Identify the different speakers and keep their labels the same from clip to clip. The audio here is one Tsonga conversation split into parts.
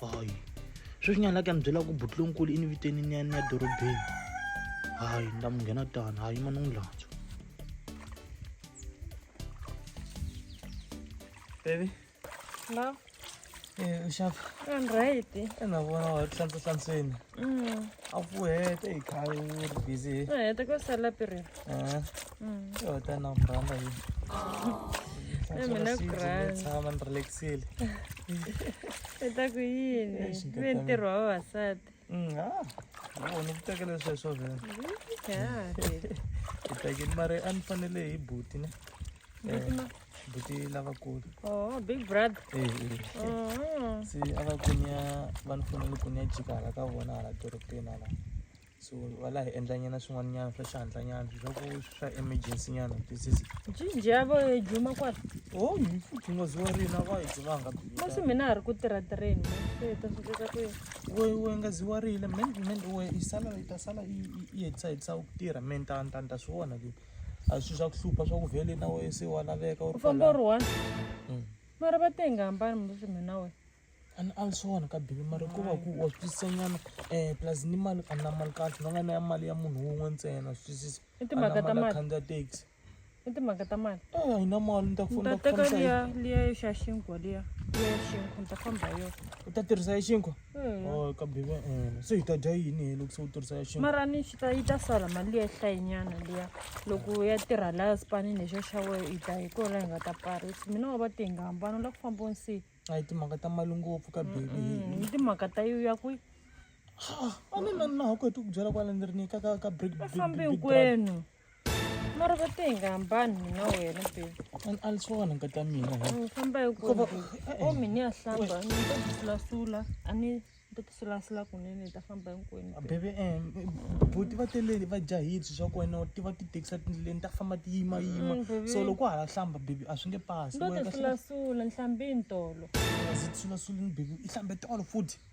Speaker 1: hayi sweswinyana la ku ya mi byela ku butlonkulu i ni viteni ni ya ni ya dorobeni hayi ni ta mi nghena tani hayi ma ni n'wi lantswa baby la
Speaker 2: eh, u
Speaker 1: xava
Speaker 2: right ena vona wa
Speaker 1: hlantswa hlantsweni Mm. A fuhete hi khale u ri busy. No, hi ta ku sala piri.
Speaker 2: Eh. Mm.
Speaker 1: Yo ta na mbranda hi. Eh,
Speaker 2: mina ku rhandza. Tshama ni relaxile. I ta ku yini? Ni ntirho wa vavasati. Mm, ah.
Speaker 1: Wo ni tekele sweswo vhela.
Speaker 2: Yeah. Hi
Speaker 1: tekele mara a ni fanele hi buti ne. Eh. buti lavakulu oh big
Speaker 2: brother eh, eh. Oh.
Speaker 1: se a va kunya va ni fanele ku ni ya jika hala ka vona hala dorobeni hala so va laha hi endlanyana swin'wanyana swa xihandlanyana leswaku swa emergency nyana twisisi jinji ya vo yi
Speaker 2: juma kwala o oh, yi
Speaker 1: futhungozi wa rina va yi jumanga masi mina ha ri ku
Speaker 2: tirha tirheni ta swi kota ku we we nga zi wa riyile
Speaker 1: men men we yi sala yi ta sala yi hetisa hetisa ku tirha men ta ta ta swi vona leti a swi swa ku hlupha swa ku vhele na wena se wa laveka u famba u ri one
Speaker 2: mm. mara va te hi nga hambani musi mina wena ani a ni swona
Speaker 1: ka bibi mara ku va ku wa swi twisisanyana um plus ni mali a na mali kahle va nga na ya mali ya munhu wun'we ntsena swi twisisa i timhaka ta mali
Speaker 2: khandziya taxi
Speaker 1: i timhaka ta
Speaker 2: mali e a hi na mali ni ta
Speaker 1: fona ta teka liya
Speaker 2: liya yo xa xinkwa liya liya ya xinkwa ni ta famba hi yona u ta tirhisa ya xinkwa
Speaker 1: Hmm. Oh, ka bibe
Speaker 2: ene.
Speaker 1: Se hita dya yini hi loko se u tirhisa ya xintu? mara ni swi ta yi ta sala
Speaker 2: mali ya hlayinyana liya loko ya tirha laya sipanini lexo xa wehe yi ta hi kona hi nga ta parisa mina wa va te hi nga hambana u lava ku famba u nsiyi A hi timhaka ta mali
Speaker 1: ngopfu ka bibe. Mm, ni timhaka ta yo
Speaker 2: ya kwihi A
Speaker 1: ni na na ha ku heti ku byela kwala ni ri ni ka ka ka brick brick fambi brick brick. hinkwenu
Speaker 2: mara va te hi nga hambani mina wena baby Al- ali swo wena
Speaker 1: nkata mina he. u famba hi Ko va-
Speaker 2: ku eh, o mi ni ya hlamba ni ta tisulasula a ni ta tisulasula kunene ni ta famba hinkwenu baby. bebe em
Speaker 1: buti va teleli va jahile swi swa ku wena ti va ti tekisa tindleleni ta famba ti yima yima Mm, baby. so loko hala hlamba bebe a swi nge pasi ni to tisulasula
Speaker 2: ni hlambini tolo zitsulasulini
Speaker 1: bebe i hlambe tolo futhi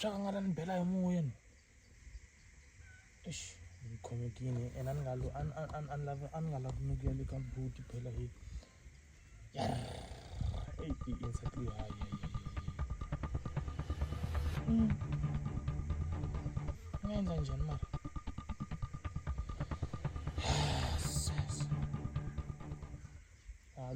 Speaker 1: swa ku a nga ta ni bela hi moyeni eish ni khomekile and a ni nga a ni a ni a ni lavi a ni nga lavi ni ku ya le ka buti phela hi eyi i insati leyi hayi nga endla njhani mara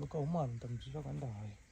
Speaker 1: loko a huma a ni ta mi byela ka ni ta haya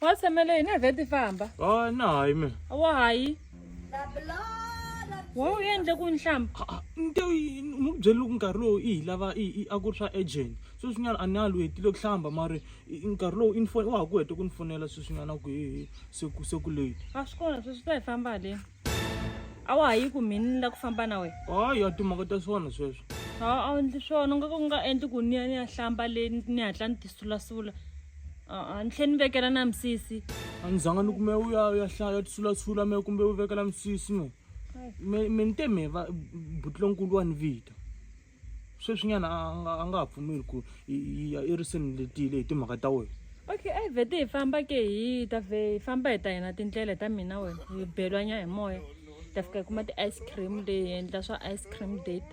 Speaker 2: wa tshamela yini a vheti famba a na hayi mina
Speaker 1: wa hayi
Speaker 2: wa u endle ku nhlamba nte ni ku
Speaker 1: byele loko nkarhi lowu i hi lava a ku ri swa agent sweswinyana a ni a lu hetile ku hlamba mari nkarhi lowu info wa ha ku hete ku ni fonela sweswinyana ku hi se ku se ku late a swi kona sweswi ta hi
Speaker 2: famba haleni a wa ha yi ku mhini ni la ku famba na wena hayi ya timhaka ta
Speaker 1: swona sweswo a a wu endli swona
Speaker 2: u nga ka u nga endli ku ni ya ni ya hlamba le ni hatla ni tisulasula a ni tlhe ni vekela na misisi a ni zanga ni kume
Speaker 1: u ya ya hlaya ya tisulasula me kumbe u vekela misisi me me me ni te me va butilonkulu wa ni vita sweswinyana a nga a nga ha pfumeli ku yi yi ya eriseni letile hi timhaka ta wena okay a hi vhete hi
Speaker 2: famba ke hi ta vhe hi famba hi ta hina tindlela ta mina wena hi belwanya hi moya hi ta fika hi kuma ti-ice cream leyi hi endla swa ice cream date